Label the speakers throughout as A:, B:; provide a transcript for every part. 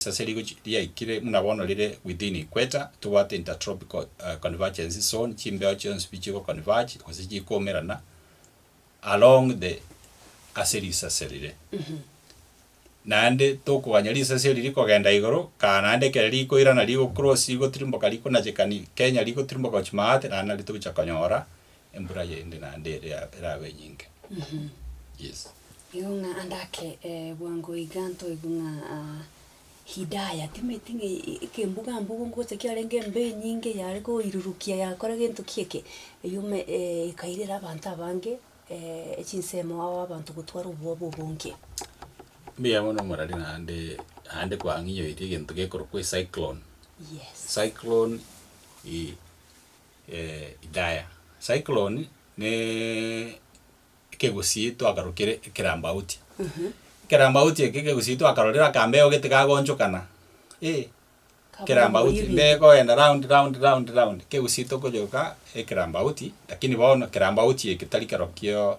A: Risasi rigo riaikire buna bono rire within equator, tobwate intertropical convergence zone, chimbeo chionsi pi chigo converge gose chikoumerana along the ase risasi rire. Naende tokoganya risasi eri rikogenda igoro kaa naende ekero rikoirana rigo cross rigotirimboka rikonachekani Kenya rigotirimboka gochi Maate naende nari togocha konyora Embura yende naende ere erabe enyinke. Yes. Igo ng'a
B: ande ake eh, bwango iga ntoigwe ng'a ah, Hidaya timeti ng'a e- ekembuga mbuga ngocha kiarenge embe enyinge yare koirurukia yakora gento ki eke, eyiomo eh, ekairera abanto abange eh, echinsemo ao abanto gotwara obwoba obonge. Mbuya
A: mono omorari naende naende kwang'inyoiri egento gekorokwa ecyclone. Yes. Cyclone eh, Idaya. Cyclone ne ekegusii twakarokire ekerambauti. Ekerambauti eke ekegusii twakarorire akambeo gete gagonchokana. Eeh ekerambauti nde goenda round round round round ekegusii tokonyoka ekerambauti lakini bono ekerambauti eke tari kerokio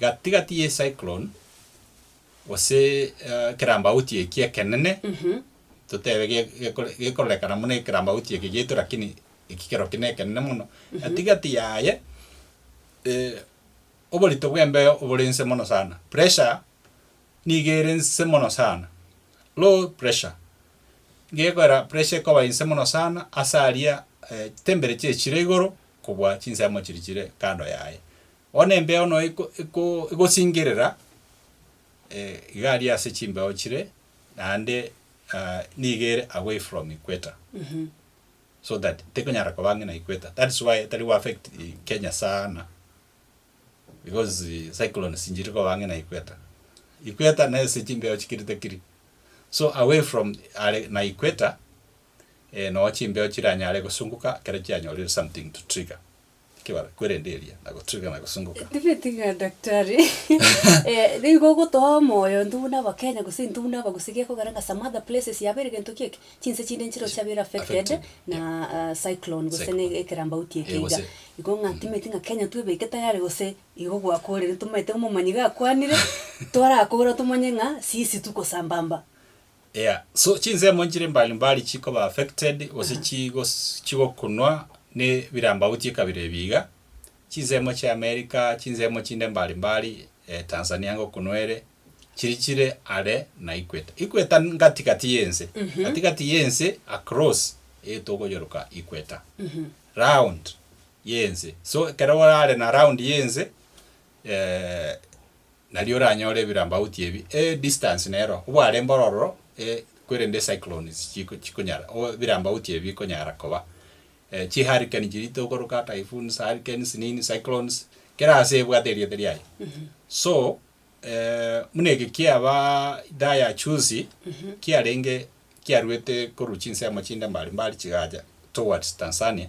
A: gati gati ye cyclone gose eh, ekerambauti eki ekenene totebe ge- gekore- gekorekana muna ekerambauti eke gieto lakini eki kero kine ekenene mono gati gati yaye eh, oborito bw'embeo obore nse mono sana pressure niga ere nse mono sana low pressure gekorera pressure ekoba inse mono sana ase aria eh, temperature echire igoro kobua chinsemo chiri chire kando yaye Bono embeo no eko eko egosingerera iga aria ase chimbeo chire, naende nigo ere away from equator, so that tekonyara koba ang'e na equator, that is why etari go affect Kenya sana, because cyclones nchiri koba ang'e na equator. Equator na ase chimbeo chikiri takiri, so away from are na equator, noo chimbeo chiranyare gosunguka ekero chianyorire something to trigger. Ekebare kwerende eria na gotirigana gosunguka. Nigo etiga daktari
B: eh nigo ogotoa omoyo intwe buna abakenya gose intwe buna abagusii gekogera ng'a some other places yabeire gento ki eke chinse chinde nchireo chiabeire affected Affected, na ah cyclone gose Cyclone. ne ekerambauti eke Eh, iga gose- igo ng'a timanyeti ng'a kenya twebeke tayari gose igo gwakorire tomaete omomanyi gakwanire torakora tomanye ng'a sisi tokosambamba. Yeah so
A: chinsemo nchire mbali mbali chikoba affected gose chigos chigokunwa ne birambauti ekabira ebi iga, chinsemo chia America, chinsemo chinde mbali mbali eh, Tanzania ngokunwa ere, chiri chire are na equator. Equator n- gati gati yense, gati gati yense across eh, togoyoroka equator. Round yense. So ekero orare na round yense eh, Nario oranyore ebirambauti ebi, e distance nero obware mboro ororo e kwerende cyclones chiko chikonyara o ebirambauti ebi bikonyara koba. E chi hurricane chiri tokoroka typhoons, hurricanes nini cyclones kera ase ebwate erieta riaye. So buna eke kiaba idhaa ya chuzi kiarenge kiaruete korwa chinse amo chinde mbari mbari chigacha towards Tanzania.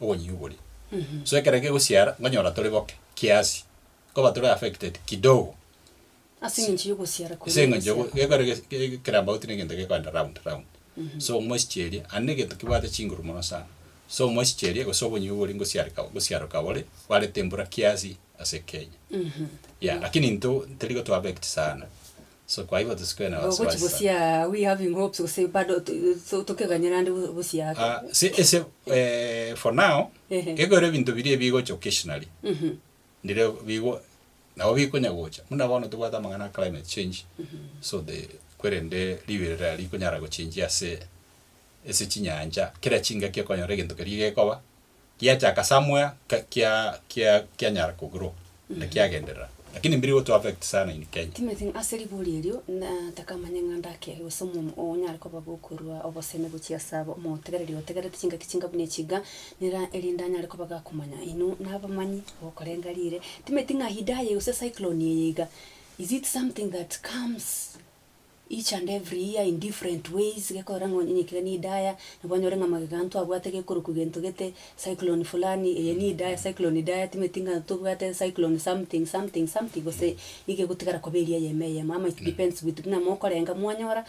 A: obonyinyu boria. So ekero kegosiara nkonyora tore boke kiasi, nkoba tore affected kidogo. Ase eng'encho
B: y'ogosiara koria. Ase eng'encho y'ogo- gekore
A: gese- ge- kera about na egento gekoenda round round. So omosichi eria, aye na egento kebwate chinguru mono sana. So omosichi eria gose obonyinyu boria ngosiareka gosiaro kabore, bwarete embura kiasi ase Kenya. Yeah, lakini intwe terigo to affect sana. So kwaigwa tosikwe na Ogochi wasiwasi sana. bosia we having
B: hopes gose bado to- to- tokeganyera ande bo- bosia ake. Ah, se ese eh,
A: for now Ehe. ekero ebinto biria ebigocha occasionally Mhm. ndire bigo nabo bikonya gocha buna bono tobwate amang'ana a climate change so the kwerende riberera rikonyara gochenjia ase ase chinyancha kera chingaki okonyora egento keria gekoba Kiachaka somewhere ka- kia kia kianyara ko grow na kiagenderera lakini mbiri gotu affect sana in Kenya. Timothy, ase ribori
B: erio nataka manye ng'a ndaki ake gose omomo oo onyare koba gokorua obosemi gochia ase aba omotegereri otegerete chingaki chinga buna echi iga, nera erinde anyare koba gakomanya inwe nabamanyi abakorenga riire. Timothy, ng'a hidaya gose cyclone eye iga, is it something that comes? each and every year in different ways, gekorora ng'a onye ekiagera nidaya, nabo onyore ng'a magega anto abwate gekoro kwi gento gete, cyclone fulani eye nidaya, cyclone idaya timanyeti ng'a tobwate cyclone something something something gose nigo egotigara koba eria eyemo eyemo ama it depends with buna mokorenga mwanyora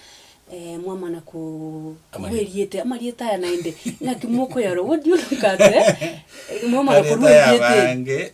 B: mwamana ko korwa eriete amarieta aya naende, ng'aki mokoyarwa what do you look at eh? Mwamana korwa eriete eri. Amarieta aya abange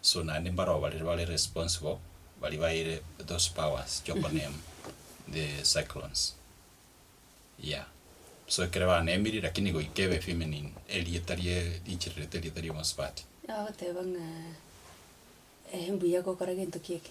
A: so naende mbaroo baria bare responsible baria baeire those powers chiokoname the cyclones yeah so ekero banemiri lakini goika ebe feminine erieta rie riichirerete erieta ria omosubati. Agoteba ng'a,
B: eh mbuya gokora gento ki eke.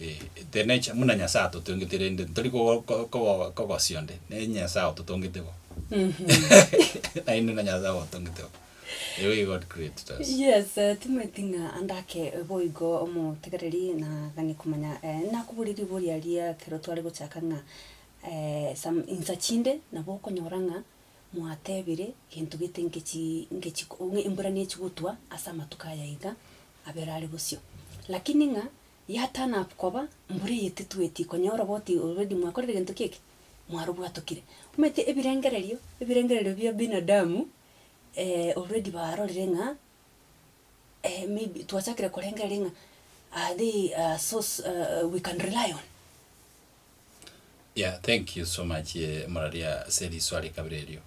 A: Ee, teri ne chia, buna Nyasae atotongete rende, ntori kogo- ko- kogo- kogosio onde, ne Nyasae ototongete bo. Naende na Nyasae ogotongete bo. Erio gaki God created us. Yes, eh, timanyeti
B: ng'a ande ake boigo omotegereri na gani komanya, eh, nakoborie riboria aria ekero tware gochaka ng'a eh, some insa chinde nabo okonyora ng'a mwatebire gento gete ngechi ngechi ko embura nechi gotwa ase amatuko aya iga, abere are bosio. Lakini ng'a ya turn up koba mbura eye titweti konyora obo oti already mwakorire egento ki eke? Mwarobwatokire. Omanyete ebirengererio, ebirengererio bia binadamu already barorire ng'a maybe twachakire korengereria ng'a are they a source we can rely on?
A: Yeah thank you so much moraria ase riswa rikabere erio.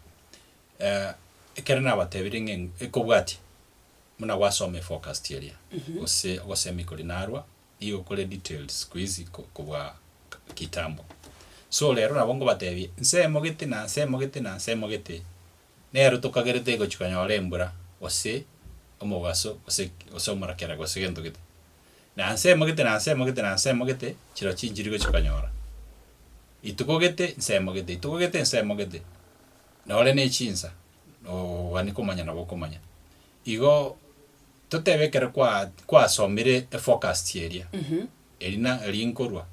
A: Ekero nabatebire ng'a ekobwatia. Buna gwasoma eforecast eria gose ogosemi koria narwa nigo kore detailed sikuizi kobua kitambo. So rero nabo ngobatebie nsemo gete na nsemo gete na nsemo gete nero tokagerete gochi konyora embura gose omogaso gose gose omorakera gose gento gete. Na nsemo gete na nsemo gete na nsemo gete chiro chinchiri gochi konyora. Rituko gete nsemo gete rituko gete nsemo gete nore ne chinsa. Nogani komanya nabo okomanya. Igo totebe ekero kwa kwasomire eforecast eria erina rinkorwa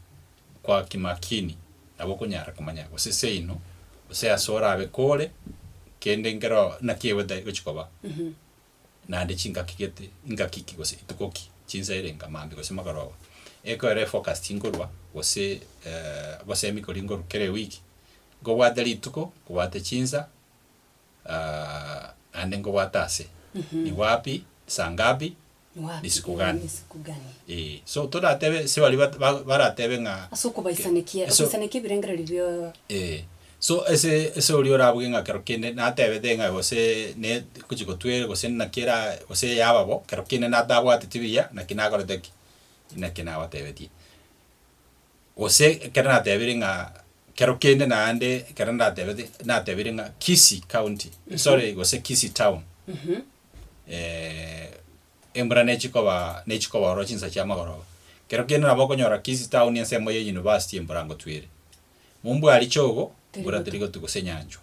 A: kwa kimakini nabo okonyara komanya gose seino gose ase orabe kore kende nkero naki egotari gochi koba naende chingaki gete ingaki ki gose rituko ki chinsa erenga maambia gose magoroba. Ekero eforecast nkorwa gose abasemi kori nkorwa kera ewiki nkobwate rituko nkobwate chinsa ah, naende nkobwate ase ni wapi, saa ngapi, Ni wapi, risiku gani. ni risiku gani. Eh, so toratebe ase baria bat- ba- baratebe ng'a Ase okobaisanekia,
B: Ase- okobaisanekia ebirengererio bio Eh, so
A: ase ase oria orabuge ng'a kero kende natebete ng'a gose ne ngochi gotwere gose naki era gose yaba bo, kero kende natabwateti buya naki nakorete ki, naki nabatebetie. Gose ekero nateebire ng'a kero kende naende ekero ndatebete nateebire ng'a Kisii County, sorry gose Kisii Town, embura nechikoba nechikoba ororo chinsa chia amagoroba. Kero kende nabo okonyora Kisii Town ensemo ya University embura ngotwire. Mombua richogo, mbura terigotu gose enyanchwa.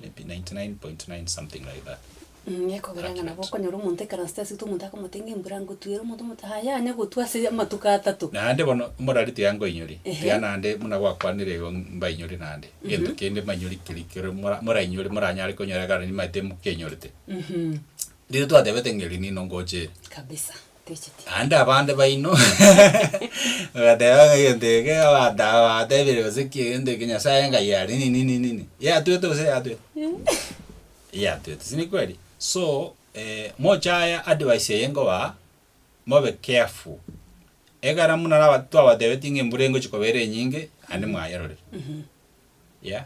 A: maybe 99.9 something like that. Mh, ekogera ng'a
B: nabo okonyora omonto ekaransete ase omonto akamotebia ng'a embura ngotwere, omonto omote aye yane gotwa ase amatuko atato. Naende bono omorari tiga
A: nkoinyori, Ehe. tiga naende buna gwakwanire igo mbainyore naende, egento kende mbainyore keri kero mora morainyore moranyare konyora ekero nimaete mokenyorete. Riria twatebete ng'a eri nino ngocha ere. Kabisa.
B: Techiti. Naende abande baino
A: bagateeba ng'a egento eke abanto aba batebirie gose ki egento eke Nyasae enkai yare nini nini nini. Yatwete gose yatwete? Eyatwete, si ni kweri? So, eh, mochaye advice eye nkobaa, mobe careful. Ekero buna naba twabatebetie ng'a embura engochi koba ere enyinge, naende mwayerorire. Yeah.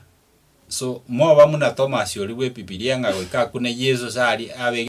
A: So, moba muna Tomasi oria bw'Ebibilia ng'a goika akune Yeso ase aria abe.